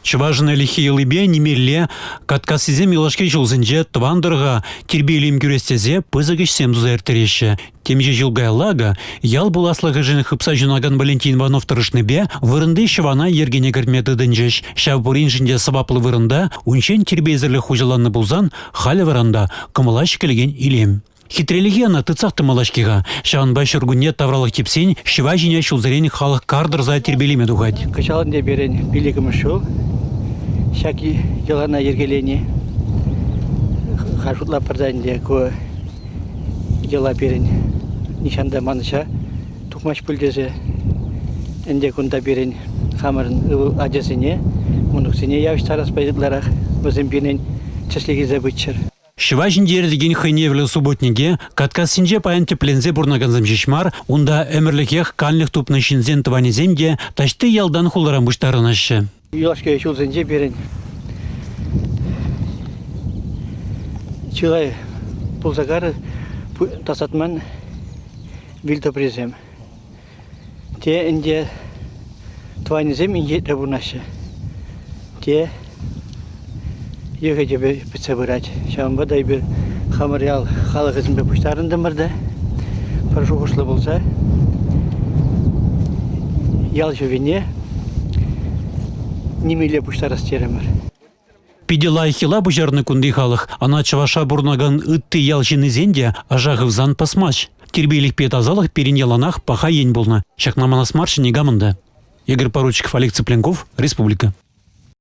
Чӑвашӑн ӗлӗкхи йӑлипе нимелле каткассисем юлашки ҫулсенче тӑван тӑрӑха тирпей-илем кӳрес тесе пысӑк ӗҫсем туса ирттереҫҫӗ. Темиҫе ҫул каялла акӑ ял пуласлӑхӗшӗн хыпса ҫунакан Валентин Иванов тӑрӑшнипе вырӑнти ҫӑвана йӗркене кӗртме тытӑнчӗҫ. Ҫав пуриншӗн те сӑваплӑ вырӑнта, унччен тирпейсӗрлӗх хуҫаланнӑ пулсан, халӗ вӑранта кӑмӑла ҫӗкелекен илем. Хитрелӗхе ӑна тытсах тӑмалла-ҫке-ха. Ҫавӑнпа ҫуркунне тавралӑх типсен ҫӑва ҫине ҫулсерен халӑх кар тӑрса тирпейлеме тухать. Кӑҫал ӗнтӗ пирӗн пиллӗкмӗш ҫул ҫак йӑлана йӗркелени. Ха шутлатпӑр та ӗнтӗ, ку йӑла пирӗн нихҫан та манӑҫа тухмасть пуль тесе. Ӗнтӗ кунта пирӗн хамӑрӑн ывӑл ачасене, мӑнуксене явӑҫтарас ытларах вӗсем пирӗн тӗслӗх илсе пыччӑр. Ҫӑва ҫинче иртекен хӑйневлӗ субботнике каткассинче паян тӗпленсе пурӑнакансем ҫеҫ мар, унта ӗмӗрлӗхех канлӗх тупнӑ ҫынсен тӑванӗсем те таҫти ялтан хуларан пуҫтарӑнӑҫҫӗ. Юлашки ҫулсенче пирӗн чылай пулса карӑ тасатман вил тӑприсем. Те ӗнтӗ тӑванӗсем инкеклӗ пурӑнаҫҫӗ, те йӑхӗ-тӗпӗ пӗтсе пырать. Ҫавӑнпа та эпир хамӑр ял халӑхӗсемпе пуҫтарӑнтӑмӑр та пӗр шухӑшлӑ пулса ял ҫӑвине нимелле пуҫтарас терӗмӗр. Питӗ лайӑх йӑла пуҫарнӑ кунти халӑх. Ана чӑваша пурӑнакан ытти ял ҫыннисен те аша хывсан пӑсмасть. Тирпейлӗхпе тасалӑх пирӗн яланах паха ен пулнӑ. Ҫакна манас марччӗ никамӑн та. Игорь Поручиков, Олег Цыпленков, Республика.